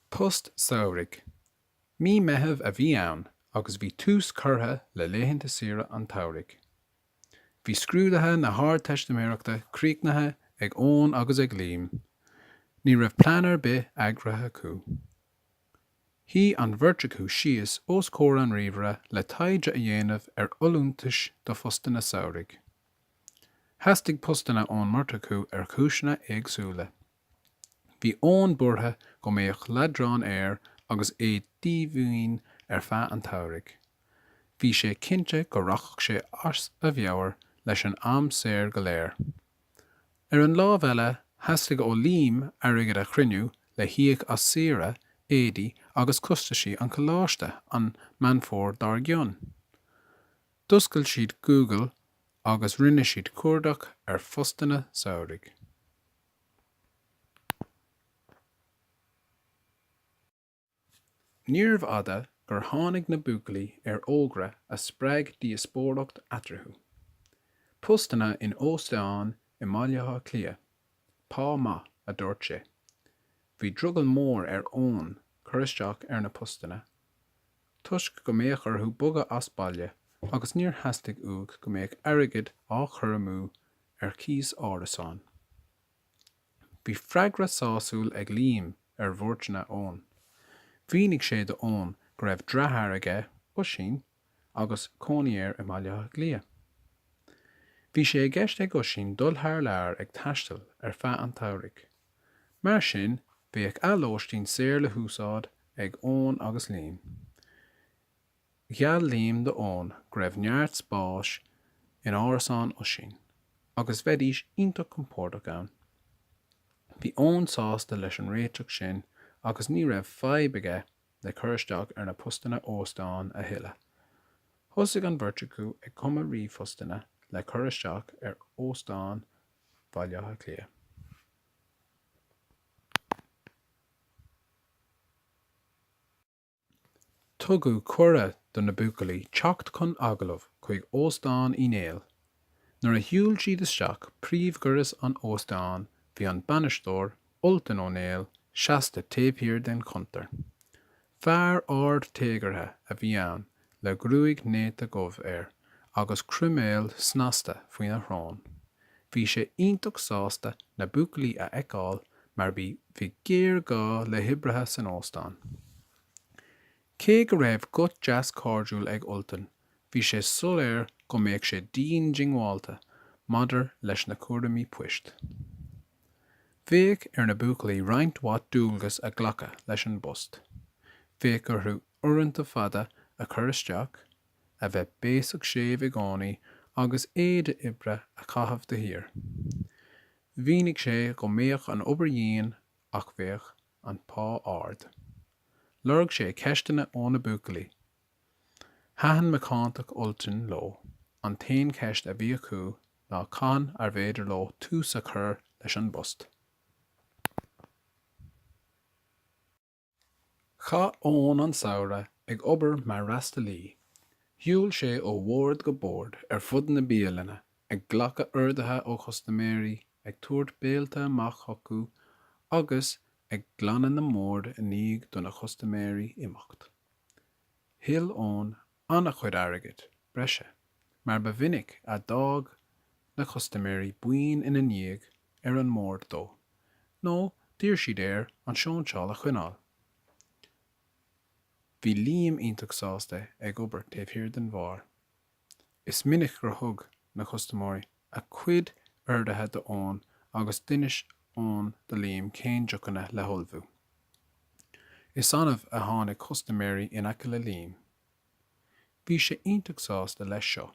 Post samhraidh. Mí Meitheamh a bhí ann agus bhí tús curtha le laethanta saoire an tsamhraidh. Bhí scrúduithe na hArdteistiméireachta críochnaithe ag Eoin agus ag Liam. Ní raibh plean ar bith eagraithe acu. Shuigh an bheirt acu síos os comhair an ríomhaire le taighde a dhéanamh ar fholúntais do phostanna samhraidh. Theastaigh postanna ón mbeirt acu ar chúiseanna éagsúla. Bhí Eoin buartha go mbeadh leadrán air agus é díomhaoin ar feadh an tsamhraidh. Bhí sé cinnte go rachadh sé as a mheabhair leis an am saor go léir. Ar an lámh eile, theastaigh ó Liam airgead a chruinniú le híoc as saoire, éadaí agus costaisí an choláiste an Meán Fómhair dár gcionn. D'oscail siad Google agus rinne siad cuardach ar phostanna samhraidh. Níorbh fhada gur tháinig na buachaillí ar fhógra a spreag díospóireacht eatarthu. Postanna in óstáin i mBaile Átha Cliath. Pá maith, a dúirt sé. Bhí drogall mór ar Eoin cur isteach ar na postanna toisc go mbeadh orthu bogadh as baile agus níor theastaigh uaidh go mbeadh airgead á chur amú ar chíos árasán. Bhí freagra sásúil ag Liam ar bhuairteanna Eoin. Mhínigh sé do Eoin go raibh deartháir aige, Oisín, agus cónaí air i mBaile Átha Cliath. Bhí sé i gceist ag Oisín dul thar lear ag taisteal ar feadh an tsamhraidh. Mar sin, bheadh a lóistín saor le húsáid ag Eoin agus Liam. Gheall Liam do Eoin go raibh neart spáis in árasán Oisín, agus bheidís iontach compordach ann. Bhí Eoin sásta leis an réiteach sin agus ní raibh fadhb aige le cur isteach ar na postanna óstáin a thuilleadh. Thosaigh an bheirt acu ag cumadh ríomhphostanna le cur isteach ar óstáin Bhaile Átha Cliath. Tugadh cuireadh do na buachaillí teacht chun agallaimh chuig Óstán Uí Néill. Nuair a shiúil siad isteach príomhdhoras an óstáin bhí an bainisteoir, Ultan Ó Néill, seasta taobh thiar den chuntar. Fear ard téagartha a bhí ann le gruaig néata dhubh air agus croiméal snasta faoina shrón. Bhí sé iontach sásta na buachaillí a fheiceáil mar bhí bhí géarghá le hoibrithe san óstán. Cé go raibh guth deas cairdiúil ag Ultan bhí sé soiléir go mbeadh sé dian diongbháilte maidir leis na cúraimí poist. Bheadh ar na buachaillí roinnt mhaith dualgas a ghlacadh leis an bpost. Bheadh orthu uaireanta fada a chur isteach, a bheith béasach séimh i gcónaí agus éide oibre a chaitheamh de shíor. Mhínigh sé go mbeadh an obair dhian ach bheadh an pá ard. Lorg sé ceisteanna ó na buachaillí. Thaitin macántacht Ultain leo, an t-aon cheist a bhí acu ná cathain arbh fhéidir leo tús a chur leis an bpost. Chaith Eoin an samhradh ag obair mar fhreastalaí. Shiúil sé ó bhord go bord ar fud na bialainne, ag glacadh orduithe ó chustaiméirí, ag tabhairt béilte amach chucu agus ag glanadh na mbord i ndiaidh do na custaiméirí imeacht. Thuill Eoin an-chuid airgid breise, mar ba mhinic a d'fhág na custaiméirí boinn ina ndiaidh ar an mbord dó, nó d'iarr siad air an sóinseáil a choinneáil. Bhí Liam iontach sásta ag obair taobh thiar den bheár. Is minic gur thug na custaiméirí a gcuid orduithe d'Eoin agus d'inis Eoin do Liam cén deochanna le hullmhú. Is annamh a tháinig custaiméirí in aice le Liam. Bhí sé iontach sásta leis seo,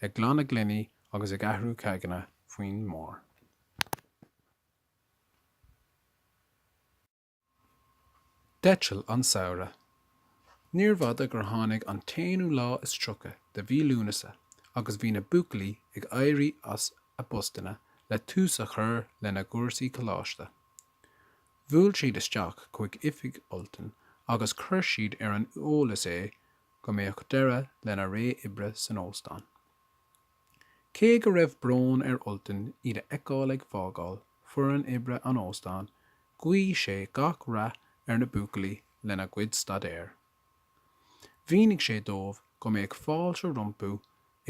ag glanadh gloiní agus ag athrú ceaigeanna faoin mbeár. D'eitil an samhradh. Níorbh fhada gur tháinig an t-aonú lá is tríocha de mhí Lúnasa agus bhí na buachaillí ag éirí as a bpostanna le tús a chur lena gcúrsaí coláiste. Bhuail siad isteach chuig oifig Ultain agus chuir siad ar an eolas é go mbeadh deireadh lena ré oibre san óstán. Cé go raibh brón ar Ultan iad a fheiceáil ag fágáil foireann oibre an óstáin, ghuí sé gach rath ar na buachaillí lena gcuid staidéir. Mhínigh sé dóibh go mbeadh fáilte rompu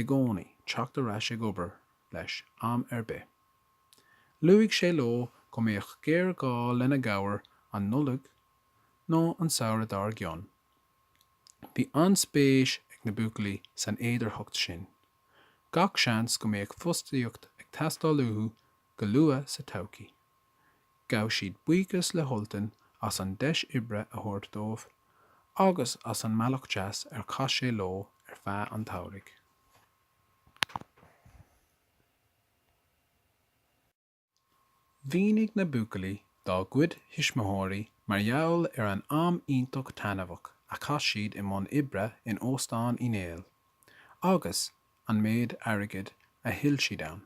i gcónaí teacht ar ais ag obair leis am ar bith. Luaigh sé leo go mbeadh géarghá lena gcabhair an Nollaig nó an samhradh dár gcionn. Bhí an-spéis ag na buachaillí san fhéidearthacht sin. Gach seans go mbeadh fostaíocht ag teastáil uathu go luath sa todhchaí. Ghabh siad buíochas le hUltan as an deis oibre a thabhairt dóibh agus as an mbealach deas ar chaith sé leo ar feadh an tsamhraidh. Mhínigh na buachaillí dá gcuid tuismitheoirí mar gheall ar an am iontach taitneamhach a chaith siad i mbun oibre in Óstán Uí Néill agus an méid airgid a thuill siad ann.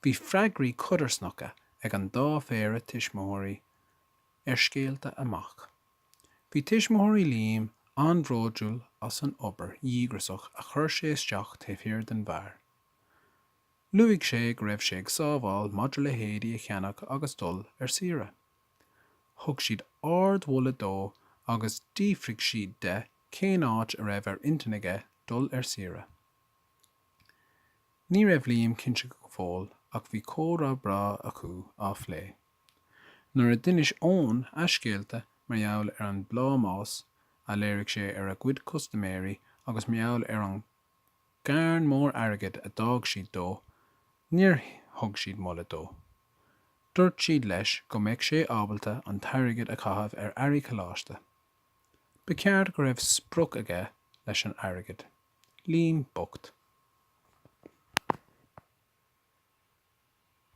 Bhí freagraí codarsnacha ag an dá phéire tuismitheoirí ar scéalta a mac. Bhí tuismitheoirí Liam an-bhródúil as an obair dhíograiseach a chuir sé isteach taobh thiar den bheár. Luaigh sé go raibh sé ag sábháil maidir le héadaí a cheannach agus dul ar saoire. Thug siad ardmholadh dó agus d'fhiafraigh siad de cén áit a raibh ar intinn aige dul ar saoire. Ní raibh Liam cinnte go fóill ach bhí comhrá breá acu á phlé. Nuair a d'inis Eoin a scéalta mar gheall ar an bplámás a léirigh sé ar a gcuid custaiméirí agus mar gheall ar an gcarn mór airgid a d'fhág siad dó, níor thug siad moladh dó. Dúirt siad leis go mbeadh sé ábalta an t-airgead a chaitheamh ar earraí coláiste. Ba cheart go raibh sprioc aige leis an airgead. Liam bocht.